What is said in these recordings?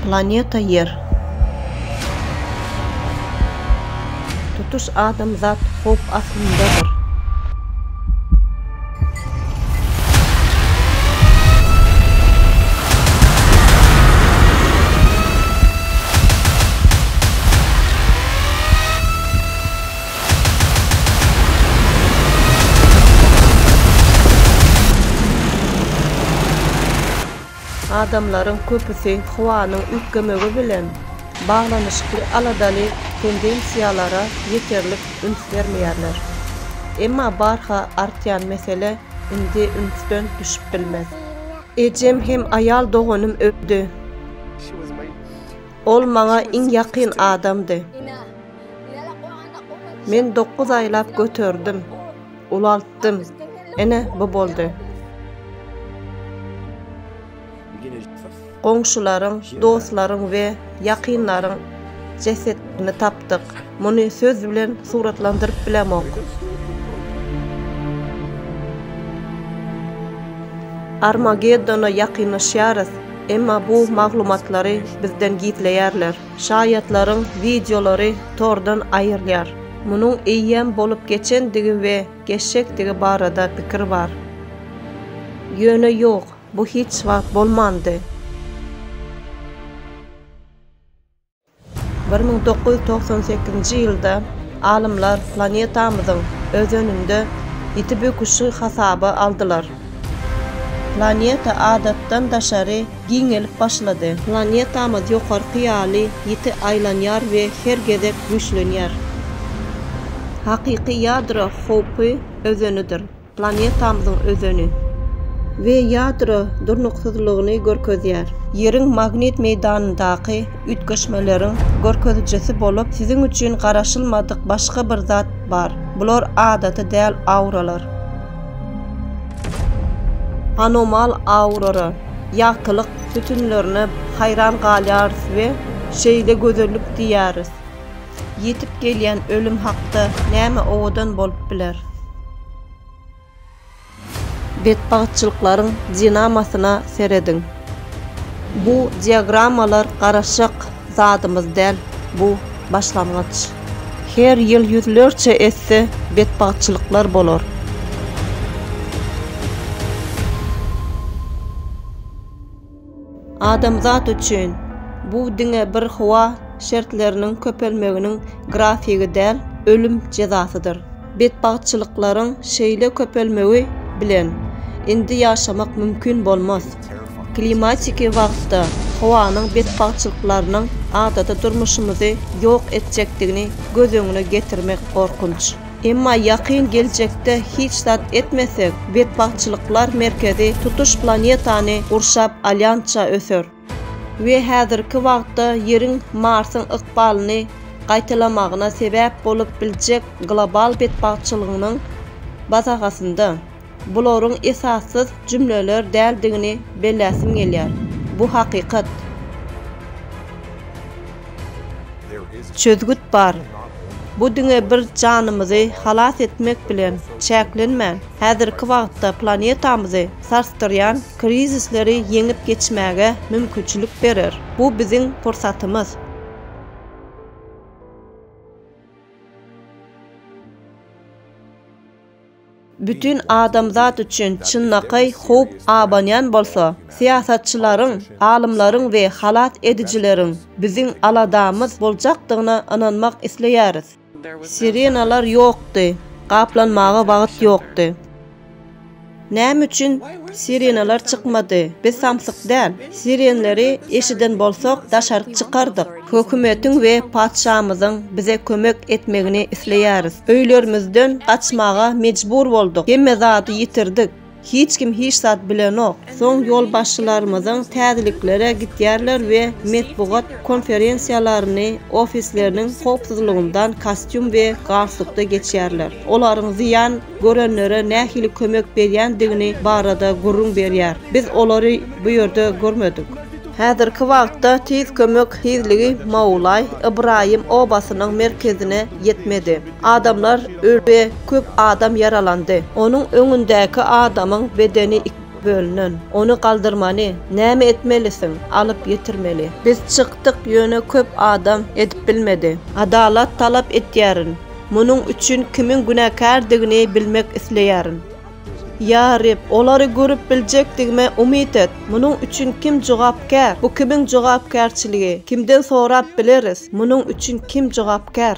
Planeta Ýer. Tutuş adamzat howp astyndadyr. Adamlaryň köpüsi howanyň üýtgemegi bilen baglanyşykly aladaly tendensiýalara ýeterlik üns bermeýärler. Emma barha artýan mesele indi ünsden düşüp bilmez. Ejem hem aýal doganym öldi. Ol maňa iň ýakyn adamdy. Men dokuz aýlap göterdim, ulaltdym, ine, bu boldy. Goňşularyň, dostlaryň we ýakynlaryň jesetini tapdyk. Muny söz bilen suratlandyryp bilemok. Armageddona ýakynlaşýarys, emma bu maglumatlary bizden gizleýärler. Şaýatlaryň wideolary tordan aýrylýar. Munuň eýýäm bolup geçendigi we geçjekdigi barada pikir bar. Ýöne ýok, bu hiç wagt bolmandy. Bir müň dokuz ýüz togsan sekizinji ýylda alymlar planetamyzyň özeninde ýiti böküşi hasaba aldylar. Planeta adatdan daşary giňelip başlady. Planetamyz ýokarky ýaly ýiti aýlanýar we her gezek güýçlenýär. Hakyky ýadro howpy özenidir. Planetamyzyň özeni we ýadro durnuksyzlygyny görkezýär. Ýeriň magnit meýdanyndaky üýtgeşmeleriň görkezijisi bolup, siziň üçin garaşylmadyk başga bir zat bar. Bular adaty däl auralar. Anomal aurora. Ýagtylyk sütünlerine haýran galýarys we şeýle gözellik diýýäris. Ýetip gelýän ölüm hakda näme owadan bolup biler? Betbagtçylyklaryň dinamasyna serediň. Bu diagrammalar garaşyk zadymyz däl bu başlangyç. Her ýyl ýüzlerçe esse betbagtçylyklar bolar. Adamzat üçin bu diňe bir howa şertleriniň köpelmeginiň grafigi däl, ölüm jezasydyr. Betbagtçylyklaryň şeýle köpelmegi bilen indi ýaşamak mümkin bolmaz. Klimatiki wagtda howanyň betbagtçylyklarynyň adaty durmuşymyzy ýok etjekdigini göz öňüne getirmek gorkunç. Emma ýakyn geljekde hiç zat etmesek, betbagtçylyklar merkezi tutuş planetany gurşap alýança öser. we häzirki wagtda Ýeriň Marsyň ykbalyny gaýtalamagyna sebäp bolup biljek global betbagtçylygynyň basagasynda, bularyň esassyz jümleler däldigini belläsim gelýär. Bu hakykat. Çözgüt bar. Bu diňe bir janymyzy halas etmek bilen çäklenmän, häzirki wagtda planetamyzy sarsdyrýan, krizisleri ýeňip geçmäge mümkinçilik berer. Bu biziň pursatymyz. Bütin adamzat üçin çynlakaý howp abanýan bolsa, syýasatçylaryň, alymlaryň we halas edijileriň biziň aladamyz boljakdygyna ynanmak isleýäris. Sirenalar ýokdy. Gaplanmaga wagt ýokdy. Näme üçin sirenalar çykmady? Biz samsyk däl. Sirenleri eşiden bolsak, daşaryk çykardyk. Hökümetiň we patyşamyzyň bize kömek etmegini isleýäris. Öýlerimizden gaçmaga mejbur bolduk. Hemme zady ýitirdik. Hiç kim hiç zat bilenok. Soň ýolbaşçylarymyzyň täzeliklere gitýärler we metbugat konferensiýalaryny ofisleriniň howpsuzlygyndan kostýum we galstukda geçýärler. Olaryň zyýan görenlere nähili kömek berýändigini barada gürrüň berýär. Biz olary bu ýerde görmedik. Häzirki wagtda tiz kömek tizligi Maulaý Ybraýym obasynyň merkezine ýetmedi. Adamlar öldi, köp adam ýaralandy. Onuň öňündäki adamyň bedeni iki bölünen. Ony galdyrmaly. Näme etmelisiň? Alyp ýetirmeli. Biz çykdyk, ýöne köp adam edip bilmedi. Adalat talap etýärin. Munuň üçin kimiň günäkärdigini bilmek isleýärin. Ýa Reb, olary görüp biljekdigime umyt et. Munuň üçin kim jogapkär? Bu kimiň jogapkärçiligi? Kimden sorap bileris? Munuň üçin kim jogapkär?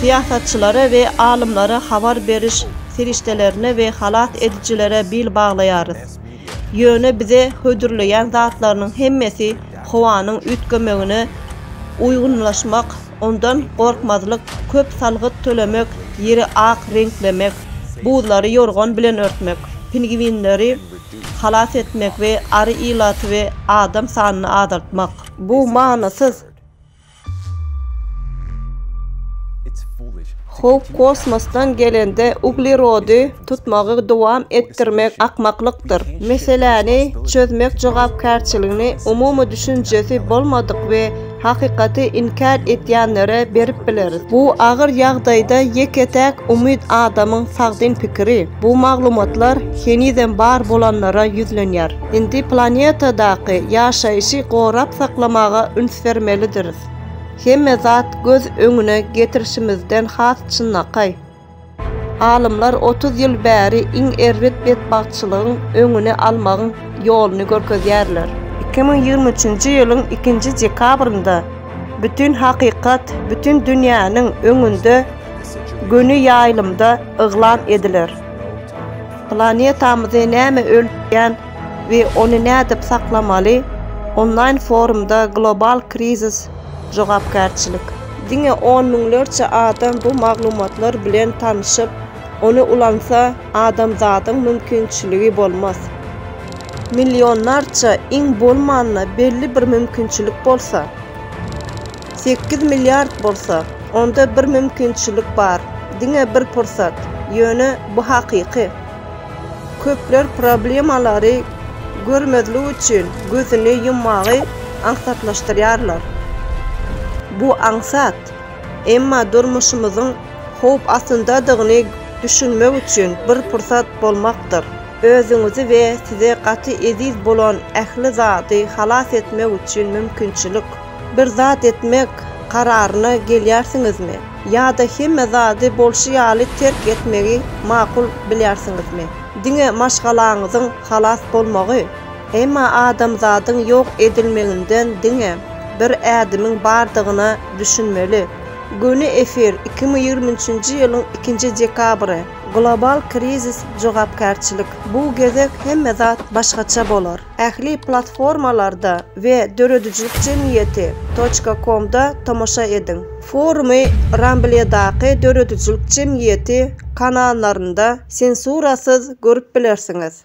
Syýasatçylara we alymlara habar beriş serişdelerine we halas edijilere bil baglaýarys. Ýöne bize hödürleýän zatlarynyň hemmesi howanyň üýtgemegine uýgunlaşmak, ondan gorkmazlyk, köp salgyt tölemek, ýeri ak reňklemek, buzlary ýorgan bilen örtmek, pingwinleri halas etmek we ary ilaty we adam sanyny azaltmak. Bu manysyz. Howp kosmosdan gelende uglerody tutmagy dowam etdirmek akmaklykdyr. Meseläni çözmek jogapkärçiligini umumy düşünjesi bolmadyk we Hakykaty inkär etýänlere berip bileris. Bu agyr ýagdaýda ýeke-täk umyt adamyň sagdyn pikiri. Bu maglumatlar henizem bar bolanlara ýüzlenýär. Indi planetadaky ýaşaýşy gorap saklamaga üns bermelidiris. Hemme zat göz öňüne getirişimizden has çynlakaý. Alymlar otuz ýyl bäri iň erbet betbagtçylygyň öňüni almagyň ýoluny görkezýärler. Iki müň ýigrimi üçünji ýylyň ikinji dekabrynda bütin hakykat bütin dünýäniň öňünde göni ýaýlymda yglan ediler. Planetamyzy näme öldürýän we ony nädip saklamaly? Onlaýn forumda global krizis Jogapkärçilik. Diňe on müňlerçe adam bu maglumatlar bilen tanşyp, ony ulansa, adamzadyň mümkinçiligi bolmaz. Millionlarça, iň bolmanda belli bir mümkinçilik bolsa, sekiz milliard bolsa, onda bir mümkinçilik bar, diňe bir pursat, ýöne bu hakyky. Köpler problemalary görmezlik üçin gözüni ýummagy aňsatlaşdyrýarlar. Bu aňsat, emma durmuşymyzyň howp astyndadygyny düşünmek üçin bir pursat bolmakdyr. Özüňizi we size gaty eziz bolan ähli zady halas etmek üçin mümkinçilik. Bir zat etmek kararyna gelýärsiňizmi? Ýa-da hemme zady bolşy ýaly terk etmegi makul bilýärsiňizmi? Diňe maşgalaňyzyň halas bolmagy? Emma adamzadyň ýok edilmeginden diňe bir ädimiň bardygyna düşünmeli. Göni efir, iki müň ýigrimi üçünji ýylyň ikinji dekabry. Global krizis jogapkärçilik. Bu gezek hemme zat başgaça bolar. Ähli platformalarda we döredijilik jemgyýeti toçka komda tomaşa ediň. Forumy Rambledaky döredijilik jemgyýeti kanallarynda sensurasyz görüp bilersiňiz.